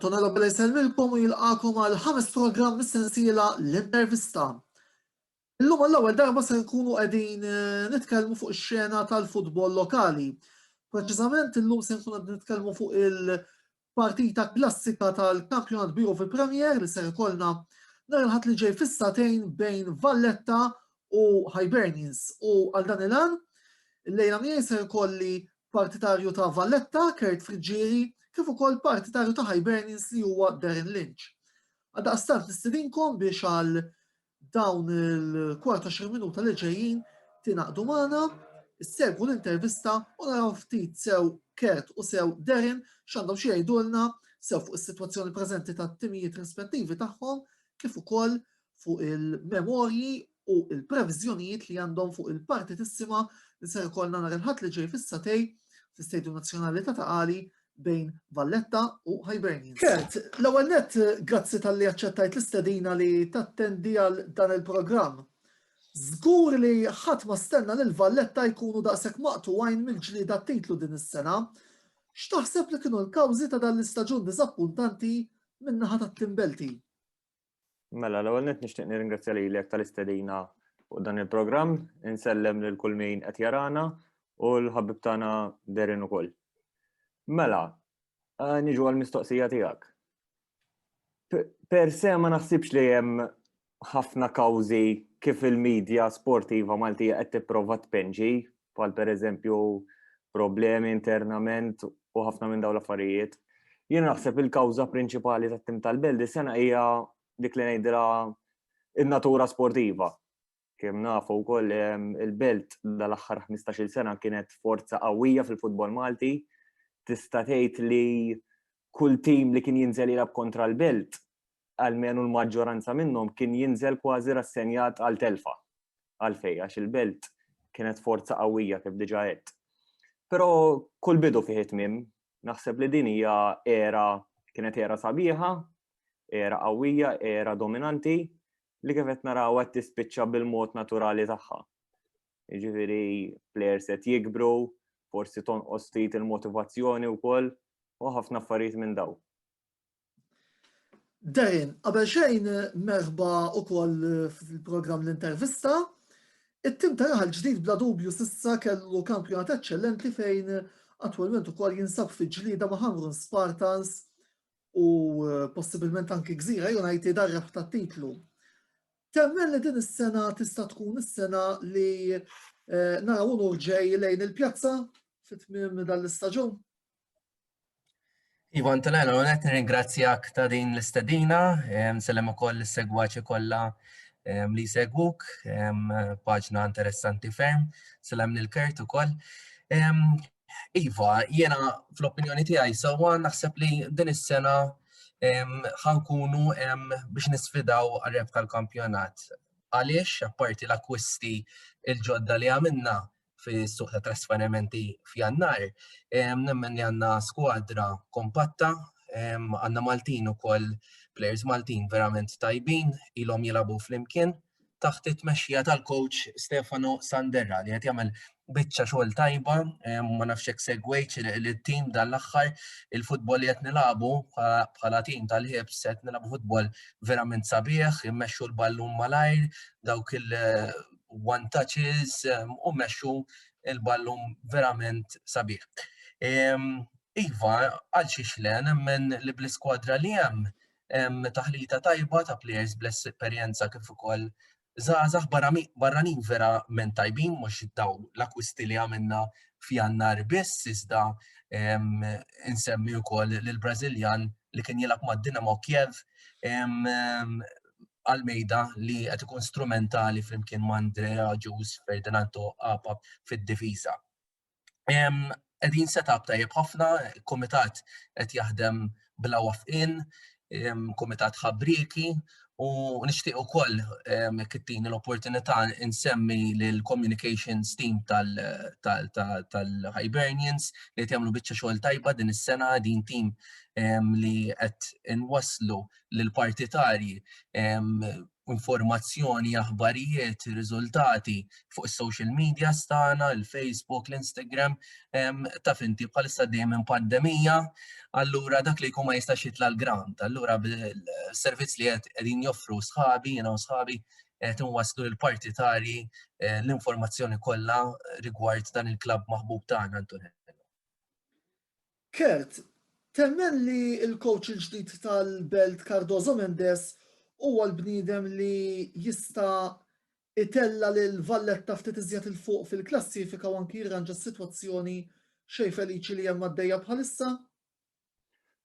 Antonio Robbela jisellmilkom u jilqakom għal ħames programm mis-sensiela l-intervista. Illum għall-ewwel darba se nkunu qegħdin eh, nitkellmu fuq ix-xena tal-futbol lokali. Preċiżament illum se nkunu qegħdin nitkellmu fuq il- Partita klassika tal-Kampjonat Bieru fil-Premier li ser ikollna nhar il-Ħadd li ġej fis-sagħtejn bejn Valletta u Hibernians u għal dan il-għan illejla miegħi ser ikolli partitarju ta' Valletta, Kurt Friggieri, kif ukoll partitarju ta' Hibernians li huwa Darren Lynch. Għaldaqstant nistidinkom biex għal Dawn il-14 minuta li ġejjin tinaqdu magħna, segwu l-intervista u naraw ftit sew Kurt u sew Darren x'għandhom xi jgħidulna sew fuq is-sitwazzjoni preżenti tat-timijiet rispettivi tagħhom kif ukoll fuq il-memorji u il-previżjonijiet li għandhom fuq il-partitissima li ser ikollna nhar il-Ħadd li ġej fis-Satej fl-Istadium Nazzjonali ta' Taqali bejn Valletta u Hibernians. Kurt, l-ewwel nett grazzi talli aċċettajt l-istedina li tattendi għal dan il-programm. Żgur li ħadd ma stenna lil Valletta jkunu daqshekk maqtugħin mill-ġlieda għat-titlu din is-sena. X'taħseb li kienu l-kawżi ta' dan l-istaġun diżappuntanti min-naħa tat-Team Belti? Mela, l-ewwel nett nixtieq nirringrazzja lilek tal-istedina fuq dan il-programm, insellem lil kull min qed jarana u l-ħabib tagħna derin ukoll. Mela, eh, niġu għall-mistoqsija tiegħek. Per se ma naħsibx li hemm ħafna kawżi kif il-medja sportiva Maltija qed tipprova tpenġi bħal pereżempju problemi internament u ħafna minn dawn l-affarijiet. Jien naħseb il-kawża prinċipali tat-tim tal-Belt is-sena hija dik li ngħidra in-natura sportiva. Kemm nafu wkoll il-Belt dal-aħħar 15-il sena kienet forza qawwija fil-futbol Malti. Tista' tgħid li kull tim li kien jinżel jilab kontra l-Belt almenu l-maġġoranza minnhom kien jinżel kważi rassenjat għal telfa. Għalfej, għax il-belt kienet forza qawwija kif diġa għedt. Però kull bidu fih it-tmim, naħseb li din hija era kienet era sabiħa, era qawwija, era dominanti li kif qed naraw qed tispiċċa bil-mod naturali tagħha. Jiġifieri players qed jikbru, forsi tonqos ftit il-motivazzjoni wkoll u ħafna affarijiet minn daw. Darren, qabel xejn merħba ukoll fil-programm l-intervista. It-tim ta' raħal ġdid bla dubju sissa kellu kampjonat eċċellenti fejn attwalment ukoll jinsab fi ġlida ma' Hamrun Spartans u eh, possibilment anki Gżira United għarref ta' titlu. Temmen li din is-sena tista' tkun is-sena li eh, naraw urġej lejn il-pjazza fit-tmiem dan l-istaġun? Iva Antonella, u net ringrazzjak ta' din l-istedina, sellem u koll l-segwaċi kolla li segwuk, paġna interessanti ferm, sellem l-kert u koll. Iva, jena fl-opinjoni tijaj, sawa naħseb li din is-sena ħankunu biex nisfidaw għarreb tal-kampjonat. Għaliex, apparti l-akwisti il-ġodda li għamilna, fis-suq ta' trasferimenti f'Jannar, nemmen li għandna skwadra kompatta, għandna Maltin ukoll players Maltin verament tajbin, ilhom jilagħbu flimkien taħt it-tmexxija tal-coach Stefano Sanderra li qed jagħmel biċċa xogħol tajba, ma nafx hekk segwejt il-tim dan l-aħħar il-futbol li qed nilagħbu bħala tim tal-ħibs qed nilagħbu futbol verament sabiħ, immexxu l-ballun malajr, dawk il- one touches u meċu il-ballum verament sabiħ. Iva, għal xiex le, nemmen li bl-iskwadra li hemm taħlita tajba ta' players bless esperjenza kif ukoll zazax barranin vera men tajbin mhux daw l-akwisti li għamilna f'jannar biss iżda insemmi wkoll l brazilian li kien jilgħab mad-Dinamo Kiev Almeida li qed ikun strumentali flimkien ma' Andrea Ġus, Ferdinand Toqqapa fid-difiża. Qegħdin setup tajjeb ħafna, kumitat qed jaħdem bla wafqin, kumitat ħabrieki u nixtieq ukoll kittini l-opportunità insemmi lill-communications team tal-Hibernians li qed jagħmlu biċċa xogħol tajba din is-sena, din tim li qed inwasslu lill-partitarji informazzjoni, aħbarijiet, riżultati fuq is-social media stana, il-Facebook, l-Instagram, ta' finti bħalissa dejjem minn pandemija, allura dak li jkun ma jistax jitla l-grant, allura servizz li qed qegħdin joffru sħabi, jiena sħabi qed inwasslu l-partitarji eh, l-informazzjoni kollha rigward dan il-klabb maħbub tagħna Antonello. Kurt, temmen li l-kowċ il-ġdid tal-Belt Cardoso Mendes huwa l-bniedem li jista' itella' lil Valletta ftit iżjed 'il fuq fil-klassifika u anki jirranġa s-sitwazzjoni xejn feliċi li hemm għaddejja bħalissa?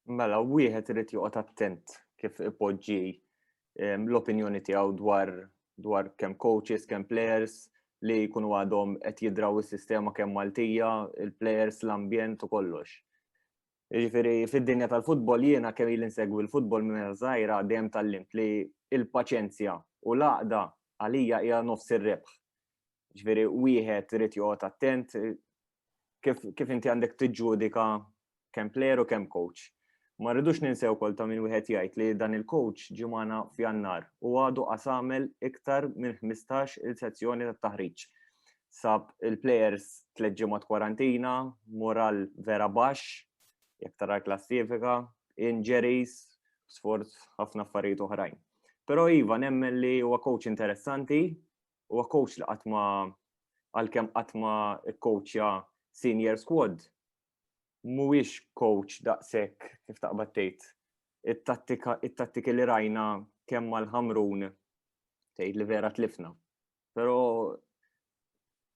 Mela wieħed irid joqgħod attent kif ipoġġi l-opinjoni tiegħu dwar dwar kemm coaches, kemm players li jkunu għadhom qed jidraw is-sistema kemm Maltija, il-players, l-ambjent u kollox. Ġifieri fid-dinja tal-futbol jiena kemm il insegwi l-futbol minn żgħira dejjem tal-limt li il-paċenzja u l-għaqda għalija hija nofs ir-rebħ. Ġveri, wieħed irid joqgħod attent kif, kif inti għandek tiġġudika kemm player u kemm coach. Ma rridux ninsew kol ta' minn wieħed jgħid li dan il-coach ġimana f'jannar u għadu qasamel iktar minn 15 il-sezzjoni ta' taħriġ. Sab il-players tleġġimat kwarantina, moral vera baxx, jek tara klassifika, injuries, sforz ħafna affarijiet oħrajn. Pero Iva, nemmen li huwa coach interessanti, huwa coach li qatt ma għalkemm qatt ma kkoċja senior squad mhuwiex coach daqshekk kif taqbad tgħid it-tattika it-tattiki li rajna kemm mal-ħamrun tgħid li vera tlifna. Però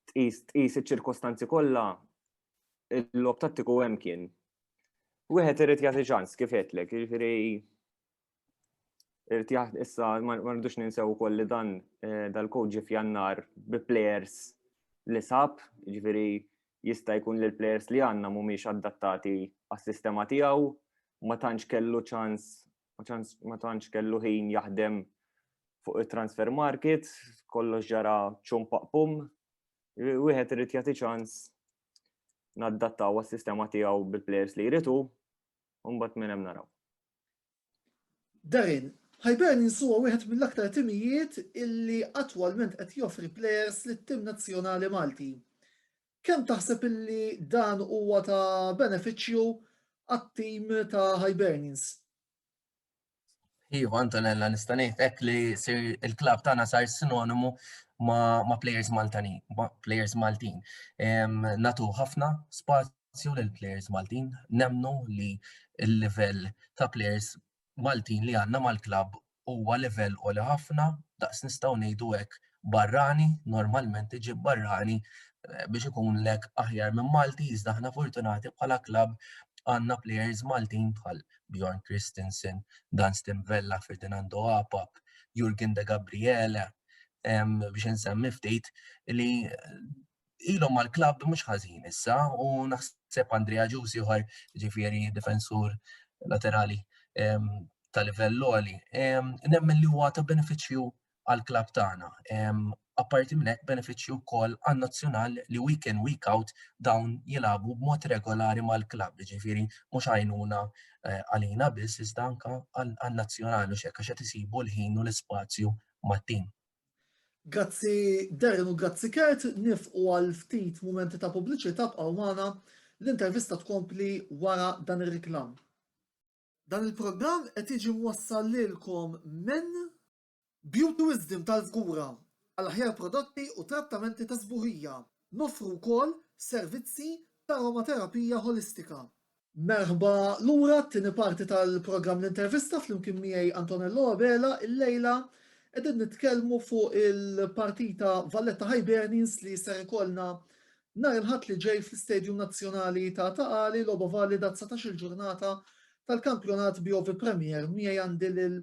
tqis tqis iċ-ċirkostanzi kollha il-lob tattiku hemm kien. Wieħed irid jagħti ċans kif għedlek, jiġifieri Irid jaħt issa ma rridux ninsew ukoll li dan eh, dal-kod ġi f'jannar bi players li sab, ġifieri jista' jkun li l-players li għandna mhumiex adattati għas-sistema tiegħu, ma tantx kellu ċans ma tantx kellu ħin jaħdem fuq it-transfer market, kollox ġara ċum paqpum, wieħed irid jagħti ċans naddattaw għas-sistema tiegħu bil-players li jritu, u mbagħad minn hemm naraw. Darin, Hibernians huwa wieħed mill-aktar timijiet illi attwalment qed joffri plejers lit-tim nazzjonali Malti. Kemm taħseb illi dan huwa ta' benefiċċju għat-tim ta' Hibernians? Iva, Antonella, nista' ngħid hekk li il-klabb tagħna sar sinonimu ma' players Maltani, players Maltin. Natu ħafna spazju spazju lil plejers Maltin. Nemmnu li l-livell ta' plejers Maltin li għandna mal-klabb huwa livell għoli ħafna, daqs nistgħu ngħidu hekk barrani, normalment iġib barrani eh, biex ikunlek aħjar minn Malti, iżda aħna fortunati bħala klabb għandna plejers Maltin bħal Bjorn Christensen, Dan Stimvella, Ferdinando Apap, Jurgen de Gabriele, biex nsemmi ftit li ilhom mal-klabb mhux ħażin issa u naħseb Andrea Ġusi uħar ġifieri difensur laterali ehm, ta' livell għali. Ehm, nemmen li huwa ta' benefiċċju għal-klabb tagħna. Ehm, apparti minn hekk benefiċċju wkoll għan-nazzjonal li week in week out dawn jilagħbu b'mod regolari mal-klabb, ġifieri mhux għajnuna eh, għalina biss iżda anke għan-nazzjonal u xekk għax qed isibu l-ħin u l-ispazju mat-tim. Grazzi Darren u grazzi Kurt, nifqu għal ftit mumenti ta' pubbliċità bqgħu magħna, l-intervista tkompli wara dan ir-riklam. Dan il-programm qed jiġi mwassal lilkom minn. Beauty Wisdom tal-Fgura, għal aħjar prodotti u trattamenti ta' sbuħija. Noffru wkoll servizzi ta' aromaterapija ħolistika. Merħba lura t-tieni parti tal-programm L-Intervista flimkien miegħi Antonello Abela illejla qegħdin nitkellmu fuq il-partita Valletta Hibernians li ser ikollna nhar il-Ħadd li ġej fl-Istadium Nazzjonali ta' Taqali logħba valida 19-il ġurnata tal-kampjonat BOV Premier. Miegħi għandi lil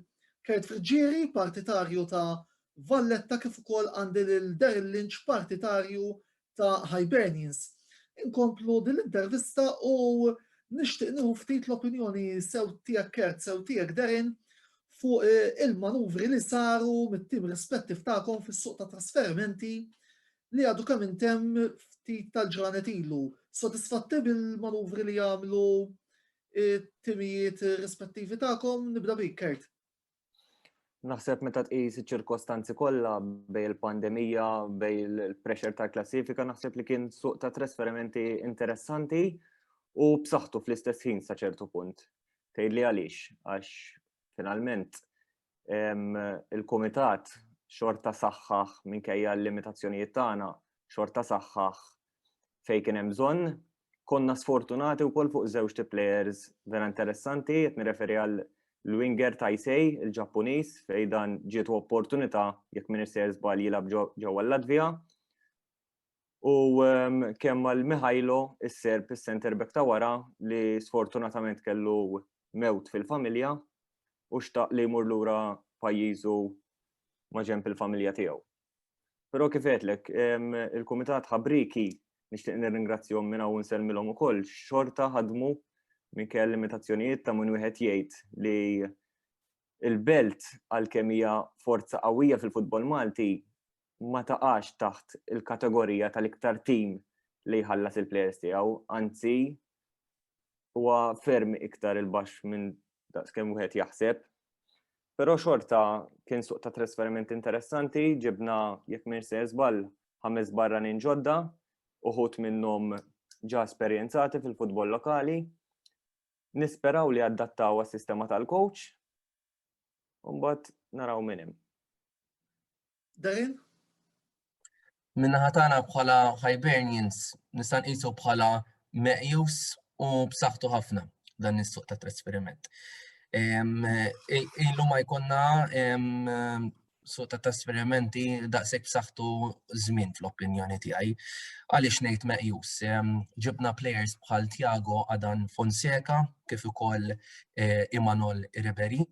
Kurt Friggieri, partitarju ta' Valletta kif ukoll għandi lil Daryl Lynch, partitarju ta' Hibernians. Inkomplu din l-intervista u nixtieq nieħu ftit l-opinjoni sew tiegħek Kert, sew tiegħek Derin fuq eh, il-manuvri li saru mit-tim rispettiv tagħkom fis-suq ta' trasferimenti li għadu kemm intemm ftit tal-ġranet ilu. Sodisfatti bil-manuvri li jagħmlu eh, timijiet rispettivi tagħkom nibda bik Kert. Naħseb meta tqis iċ-ċirkostanzi kollha bej il-pandemija, bej il-pressure tal-klassifika, naħseb li kien suq ta' trasferimenti interessanti u b'saħħtu fl-istess ħin sa ċertu punt. Tgħidli għaliex, għax finalment il-kumitat xorta saħħaħ minkejja l-limitazzjonijiet tagħna, xorta saħħaħ fejn kien hemm bżonn. Konna sfortunati wkoll fuq żewġ ti players vera interessanti, qed nirreferi għal l-winger Taisei, il-Ġappuniż, fejn dan ġietu opportunità jekk minn isser żball jilgħab ġewwa l-Latvija. U ehm, kemm għal Mihailo, is-Serb, is-center back ta' wara li sfortunatament kellu mewt fil-familja u xtaq li jmur lura pajjiżu ma' ġemp il-familja tiegħu. Però kif għedlek, il-Kumitat Ħabriki nixtieq nirringrazzjahom minn hawn nsellmilhom ukoll xorta ħadmu minkejja limitazzjonijiet ta' minn wieħed jgħid li il-belt għalkemm hija forza qawwija fil-futbol Malti ma taqax taħt il-kategorija tal-iktar tim li jħallas il-plejers tiegħu, anzi huwa ferm iktar il-baxx minn daqskemm wieħed jaħseb. Però xorta kien suq ta' trasferiment interessanti, ġibna jekk minn se żball ħames barranin ġodda, uħud minnhom ġa esperjenzati fil-futbol lokali. Nisperaw li adattaw għas-sistema tal-coach, u mbagħad naraw minn hemm. Darren? Min-naħa tagħna bħala Hibernians nista' nqisu bħala meqjus u b'saħħtu ħafna dan is-suq ta' trasferiment. Ilu ma jkunna suq ta' trasferimenti daqshekk b'saħħtu żmien fl-opinjoni tiegħi. Għaliex ngħid meqjus? Ġibna players bħal Tiago Adan Fonseca kif ukoll eh, Imanol Ribery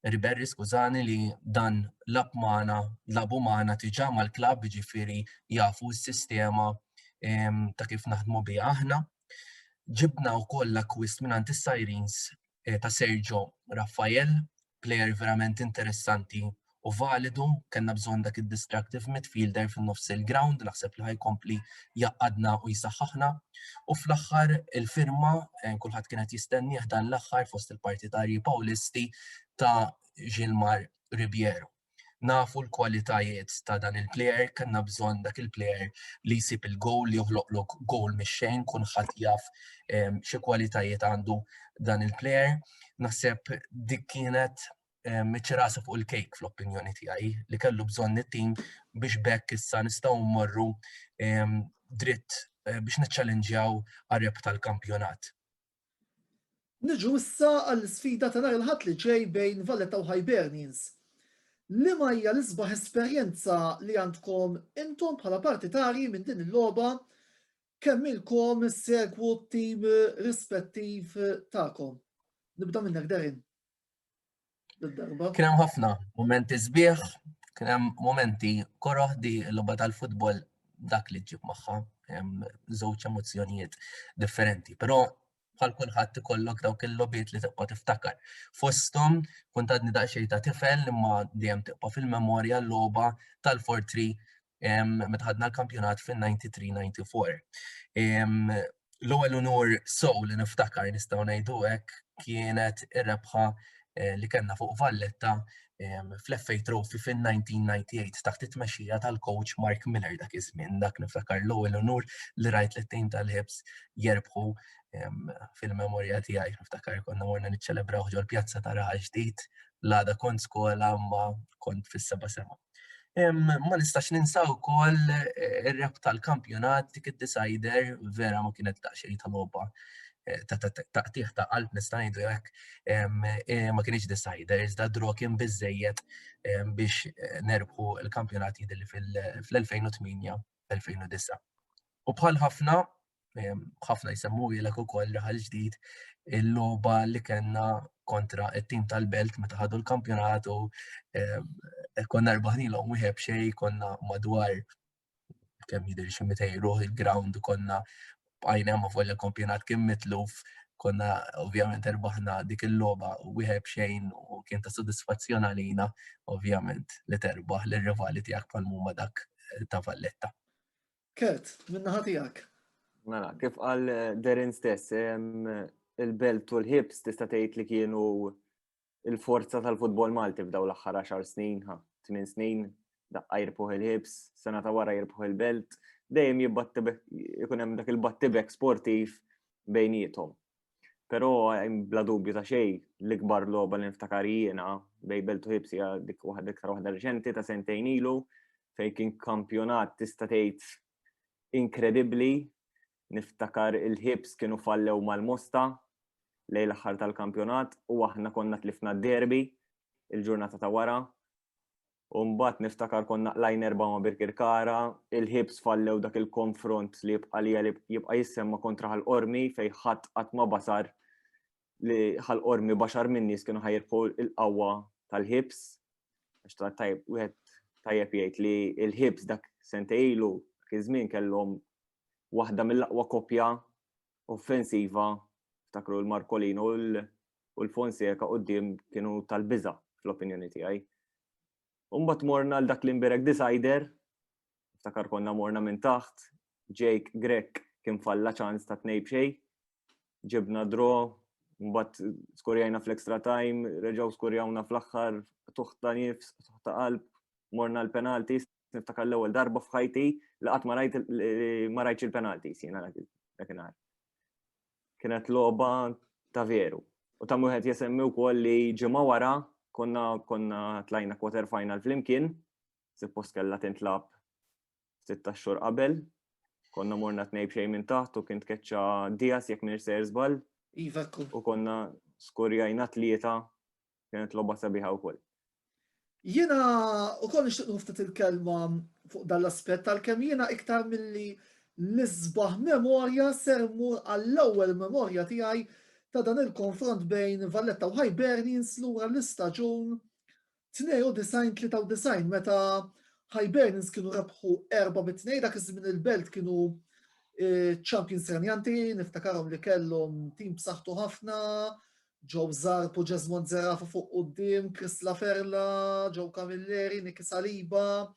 Riberri skużani li dan lab magħna, labu magħna tiġà mal-klabb ġifieri jafu s-sistema ta' kif naħdmu biha aħna. Ġibna wkoll l-akkwist minn is-Sirens eh, ta' Sergio Raffael, plejer verament interessanti u validu, kellna bżonn dak id-destructive midfielder fin-nofs il-ground, naħseb li ħajkompli jgħaqqadna u jsaħħaħna. U fl-aħħar il-firma eh, kulħadd kienet jistennieh dan l-aħħar fost il-partitarji Pawlisti ta' Gilmar Ribiero. Nafu l-kwalitajiet ta' dan il-player, kanna bżonn dak il-player li jsib il-gowl, li joħloqlok gowl mix-xejn, kun ħadd jaf eh, xi kwalitajiet għandu dan il-player. Naħseb dik kienet meċċi rasu fuq il-kejk fl-opinjoni tiegħi li kellu bżonn it-tim biex bekk issa nistgħu mmorru dritt eh, biex niċċallenġjaw għareb tal-kampjonat. Niġu issa għall-sfida ta' nhar il-ħadd li ġej bejn Valletta u Hibernians. Li ma hija l-isbaħ esperjenza li għandkom intom bħala partitari minn din il-logħba kemm ilkom segwu t-tim rispettiv tagħkom. Nibda minnek Derin. Kien hemm ħafna momenti sbieħ, kien hemm momenti koroħ di l-logħba tal-futbol dak li ġib magħha żewġ emozzjonijiet differenti. Però bħal kulħadd ikollok dawk il-lobiet li tibqa' tiftakar. Fosthom kont għadni daqsxejn ta' tifel imma dejjem tibqa' fil-memorja l-logħba tal-fortri meta ħadna l-kampjonat fin-93-94. L-ewwel unur sow li niftakar nistgħu ngħidu hekk kienet ir-rebħa eh, li kellna fuq Valletta fl-FA Trophy fin-1998 taħt it-tmexxija tal-coach Mark Miller dak iż-żmien dak niftakar l-ewwel unur li rajt li tim tal-ħibs jerbħu fil-memorja tiegħi niftakar konna morna niċċelebraw ġol pjazza ta' raħal ġdid l-għada kont skola ma kont fis-seba sema. Ma nistax ninsa wkoll eh, ir-rep tal-kampjonat dik id-decider vera ma kienet daqsxejn ta' logħba eh, ta' qtih ta' qalb nista' ngħidu hekk eh, ma kienx decider iżda draw kien biżejjed biex nerbħu l-kampjonat jidilli fl-2008 2009. U bħal ħafna ħafna jsemmu jilek u koll raħal ġdid il-loba li kena kontra il-tim tal-belt meta ħadu l-kampjonatu konna rbaħni l-om wieħeb xej konna madwar kemm jidri xi mitejru il-ground konna bqajna ma fuq il-kampjonat kien mitluf konna ovvjament erbaħna dik il-loba u wieħed xejn u kien ta' soddisfazzjon għalina ovvjament li terbaħ l-rivali tiegħek pal-muma dak eh, ta' Valletta. Kert, minna ħatijak. Mela, kif għal eh, Derin stess, il-belt u l-hips tista' tgħid li kienu il-forza tal-futbol Malti f'daw l-aħħar 10 snin, 8 snin, daqqa jirbħu il-hips, sena ta' wara jirbħu il-belt, dejjem jibbattibek, ikun hemm dak il-battibek sportiv bejnietom. Pero bla dubju ta' xej, l-ikbar loba li niftakar jiena bej Beltu Hibsi dik waħda iktar waħda reċenti ta' sentejn ilu fej kien kampjonat tista' tgħid inkredibbli. Niftakar il-ħibs kienu fallew mal-mosta lej l-aħħar tal-kampjonat u aħna konna tlifna derbi il-ġurnata ta' wara. U mbagħad niftakar konna qlajn erba' ma' Birkirkara, il-ħibs fallew dak il-konfront li jibqa' li jibqa' jissemma kontra ħal-qormi fejn ħadd qatt ma basar li ħal-qormi baxar minn nies kienu ħajrbħu il-qawwa tal-ħibs. Għax ta' tajb, wieħed tajjeb jgħid li l-ħibs dak sentejlu kien żmien kellhom waħda mill-aqwa kopja offensiva ftakru l-Markolino u u l-Fonseca qudiem kienu tal-biża fl-opinjoni tiegħi. Umbat morna l-dak l-imbirek decider, ftakar konna morna minn taħt, Jake Grek kien falla ċans ta' tnej bxej, ġibna dro, mbatt skorjajna fl-extra time, reġaw skorjawna fl-axħar, tuħta nifs, tuħta qalb, morna l-penaltis, niftakar l-ewwel darba f'ħajti li qatt ma rajt il-penaltis jiena dakinhar. kienet logħba ta' veru. U ta' wieħed jesemmi wkoll li ġimgħa wara konna konna tlajna quarter final flimkien, suppost kellha tintlab sitta xhur qabel, konna morna tnej b'xejn minn taħt u kien tkeċċa Dias jekk minn ser żball. Iva U konna skorjajna tlieta kienet logħba sabiħa wkoll. Jiena ukoll nixtieq nuftit il-kelma fuq dan l-aspett għalkemm jiena iktar milli l-isbaħ memorja ser mur għall-ewwel memorja tiegħi ta' dan il-konfront bejn Valletta u Hibernians lura l-istaġun 92-93 meta Hibernians kienu rebħu erba' mit-tnej dak iż-żmien il-belt kienu eh, champions renjanti, niftakarhom li kellhom tim b'saħħtu ħafna, Joe Zarb u Jesmond Zerafa fuq quddiem, Chris Laferla, Joe Camilleri, Nicky Saliba,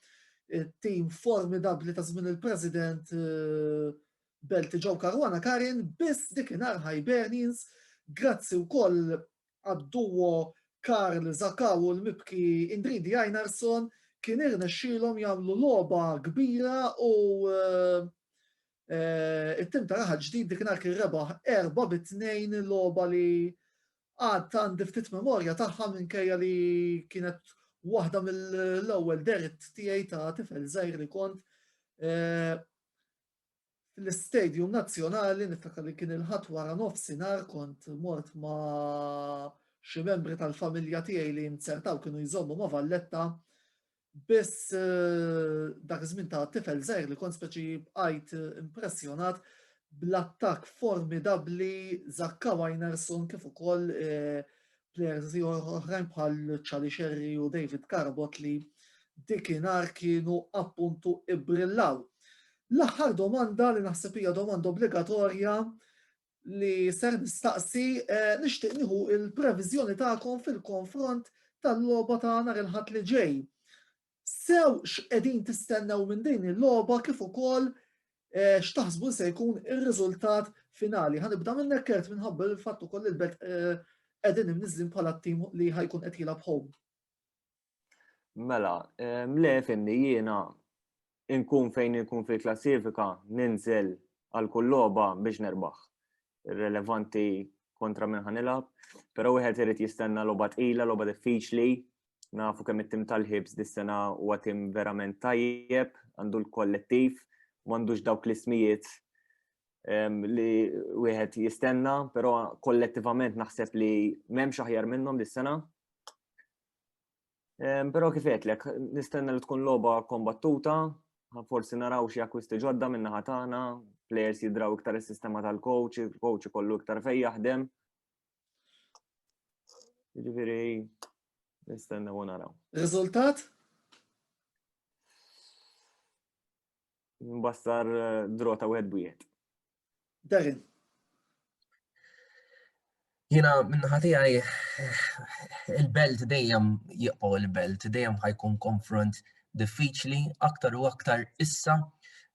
tim formidabli ta' żmien il-President eh, Belti Joe Caruana Karin, biss dikinar Hibernians, grazzi wkoll għad-duo Karl Zakaw u l-mibki Indridi Ajnarson, kien irnexxilhom jagħmlu logħba kbira u eh, it-tim ta' raħal ġdid dikinhar kien rebaħ erba' bi tnejn il-logħba li għad għandi ftit memorja tagħha minkejja li kienet waħda mill-ewwel derit tiegħi ta' tifel żgħir li kont eh, fl-Istadium Nazzjonali niftakar li kien il-ħadd wara nofsinhar kont mort ma' xi membri tal-familja tiegħi li nzertaw kienu jżommu ma' Valletta Biss dak iż-żmien ta' tifel żgħir li kont speċi bqajt impressjonat bl-attakk formidabbli Zakka Wajnarsson kif ukoll plejers oħrajn bħal Charlie Scerri u David Carabott li dikinhar kienu appuntu ibbrillaw. L-aħħar domanda li naħseb hija domanda obbligatorja li ser nistaqsi nixtieq nieħu l-previżjoni tagħkom fil-konfront tal-logħba ta' nhar il-Ħadd li ġej. Sew x'qegħdin tistennew minn din il-logħba kif ukoll eh, x'taħsbu se jkun ir-riżultat finali. Ħanibda minnek kert minħabba l-fatt ukoll il-bet eh, qegħdin imniżlin bħala t-tim li ħajkun qed jilgħab home. Mela, le fimni jiena inkun fejn inkun fil-klassifika ninżel għal kull logħba biex nerbaħ. Relevanti kontra minn ħanilab, però wieħed irid jistenna logħba tqila, logħba diffiċli, nafu kemm it-tim tal-ħibs dis-sena huwa tim verament tajjeb, għandu l-kollettiv, m'għandux dawk l-ismijiet li wieħed jistenna, però kollettivament naħseb li m'hemmx aħjar minnhom dis-sena. Però kif għedlek, nistenna li tkun logħba kombattuta, forsi naraw xi akkwisti ġodda minn naħa tagħna, players jidraw iktar is-sistema tal-coach, il-coach ikollu iktar fej jaħdem. Ġifieri nistenna u naraw. Riżultat? Mbassar eh, drota wieħed bwieħed. Darren. Jina minnaħa tiegħi il-belt dejjem jibqgħu il-belt, dejjem ħajkun konfront diffiċli aktar u aktar issa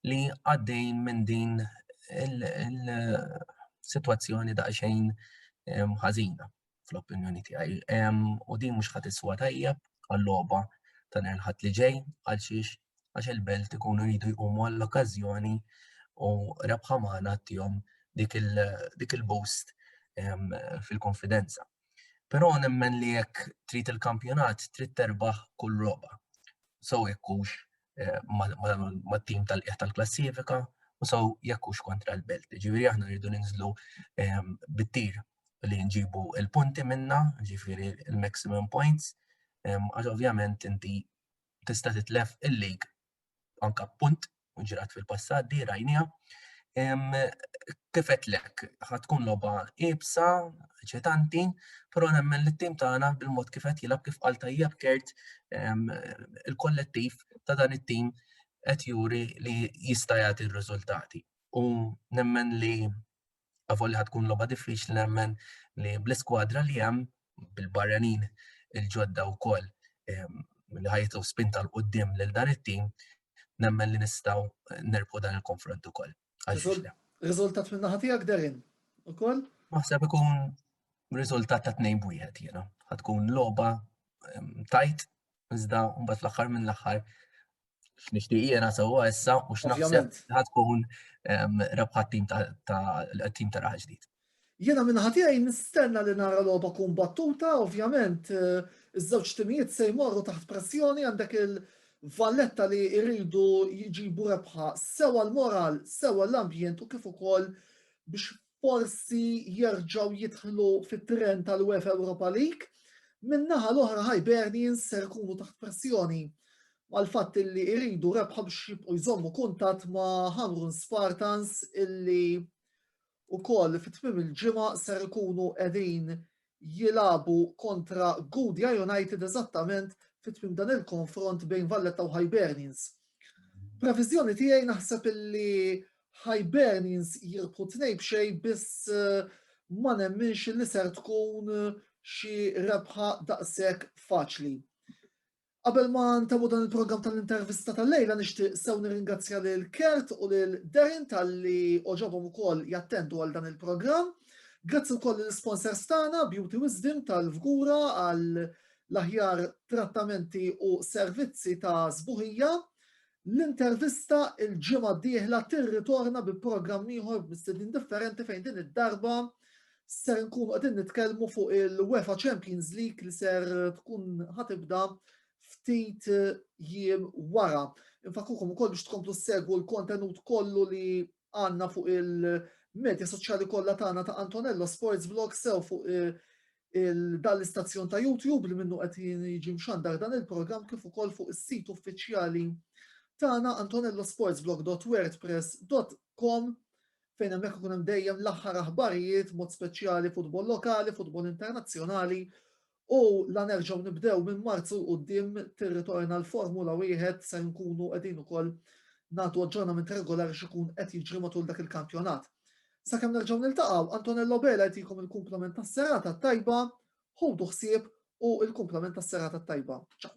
li għaddej minn din il-sitwazzjoni daqsxejn ħażina. fl-opinjoni tiegħi. U din mhux ħadd iswa tajjeb għal-logħba ta' nhar ħadd li ġej għal xiex għax il-belt ikunu jridu jqumu għall-okkażjoni u rebħa magħna tihom dik il-boost fil-konfidenza. Però nemmen li jekk trid il-kampjonat trid terbaħ kull roba. So jekkux eh, mat-tim tal-qiegħ tal-klassifika u so jekkux kontra l-belt. Ġifieri aħna rridu ninżlu bit-tir li nġibu il-punti minna, ġifiri il-maximum points, għax ovvjament inti tista' titlef il-lig anka punt u ġrat fil-passat di rajnija. Kifet lek, ħatkun loba ibsa, ċetanti, pero nemmen li t-tim tagħna bil-mod kifet jilab kif għal tajjeb kert il-kollettiv ta' dan it-tim qed juri li jista' jagħti r-riżultati. U nemmen li Avolja ħad tkun logħba diffiċli nemmen li bl-iskwadra li hemm bil-barranin il-ġodda wkoll ehm, li ħajtu spinta l-qoddim lil dan it-tim nemmen li nistgħu nerbħu dan il-konfront ukoll. Riżultat minn naħa tiegħek Derin ukoll? Maħseb ikun riżultat ta' tnejn bwieħed jiena. Ħad tkun logħba ehm, tajt iżda mbagħad fl-aħħar minn l-aħħar x'nixtieq jiena sewwa issa u x'naħseb ħad tkun rebħat tim tal-tim ta' raħ ġdid. Jiena minn ħatijaj nistenna li nara logħba kun battuta, ovvjament eh, iż-żewġ timijiet se jmorru taħt pressjoni għandek il-valletta li jridu jġibu rebħa sewa l-moral, sewa l-ambjent u kif ukoll biex forsi jerġgħu jidħlu fit-tren tal-UEFA Europa League, min-naħa l-oħra Hibernians ser ikunu taħt pressjoni għal-fatt illi iridu rebħa biex jibqu jżommu kuntat ma' Hamrun Spartans illi u koll fit-tmim il-ġimgħa ser ikunu qegħdin jilagħbu kontra Gudja United eżattament fi tmiem dan il-konfront bejn Valletta u Hibernians. Previżjoni tiegħi naħseb illi Hibernians jirbħu tnej b'xej biss eh, ma nemminx li ser tkun eh, xi rebħa daqshekk faċli. Qabel ma ntemmu dan il-programm tal-intervista tal-lejla nixtieq sew nirringrazzja lil Kurt u lil Darren talli għoġobhom ukoll jattendu għal dan il-programm. Grazzi wkoll lill-isponsors tagħna Beauty Wisdom tal-Fgura għal l-aħjar trattamenti u servizzi ta' sbuħija. L-intervista l-ġimgħa d-dieħla tirritorna bi programm ieħor b'mistednin differenti fejn din id-darba ser nkunu qegħdin nitkellmu fuq il-UEFA Champions League li ser tkun ħatibda ftit jiem wara. Infakkukom ukoll biex tkomplu segwu l-kontenut kollu li għandna fuq il-medja soċjali kollha tagħna ta' Antonello Sports Vlog sew fuq eh, Dan l-istazzjon ta' YouTube li minnu qed jiġi mxandar dan il-programm kif ukoll fuq is-sit uffiċjali tagħna antonellosportsblog.wordpress.com fejn hemmhekk ikun hemm dejjem l-aħħar aħbarijiet mod speċjali futbol lokali, futbol internazzjonali u la nerġgħu nibdew minn Marzu l quddiem tirritorna l-Formula wieħed se nkunu qegħdin ukoll nagħtu aġġornament regolari x'ikun qed jiġri matul dak il-kampjonat. Sakemm nerġgħu niltaqgħu, Antonello Bela jtikom il-kumplament tas-serata t-tajba, ħudu ħsieb u il-kumplament tas-serata t-tajba. Ciao.